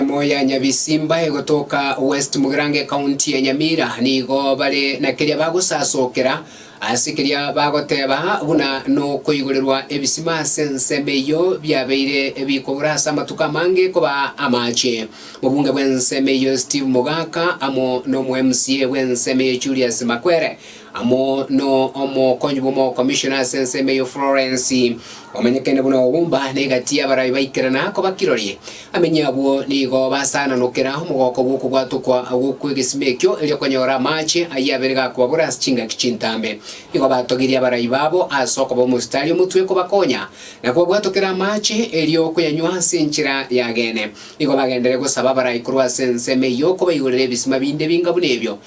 Ensemo ya Nyabisimba egotoka West Mugirango Ekaunti ya Nyamira nigo bare na keria bagosasokera ase keria bagoteba buna nokoigorerwa ebisima ase ensemo eyio biabeire bikogora ase amatuko amange kobaa amache. Mobunge bw'ensemo eyio Steve Mogaka amo nomo mca bw'ensemo eyio Julius Makwere amo no omokonyi bw'omokomishona ase ensemo eyio Florence, omanyekene buna Obumba, na egati y'abarabi baikerana koba kirori. Amenye abwo nigo basananokera omogoko bw'okobwatwa kwa agwo kw'egesima ekio, erio konyora amaache ayio abere gakobabora ase chingaki chintambe. Nigo batogirie abarabi babo ase okoba omositari omotwe kobakonya, na kobabwatokera amaache, erio koyanywa ase enchera y'ageene. Nigo bagenderere gosaba abarai korwa ase ensemo eyio kobaigorera ebisima binde binga buna ebio,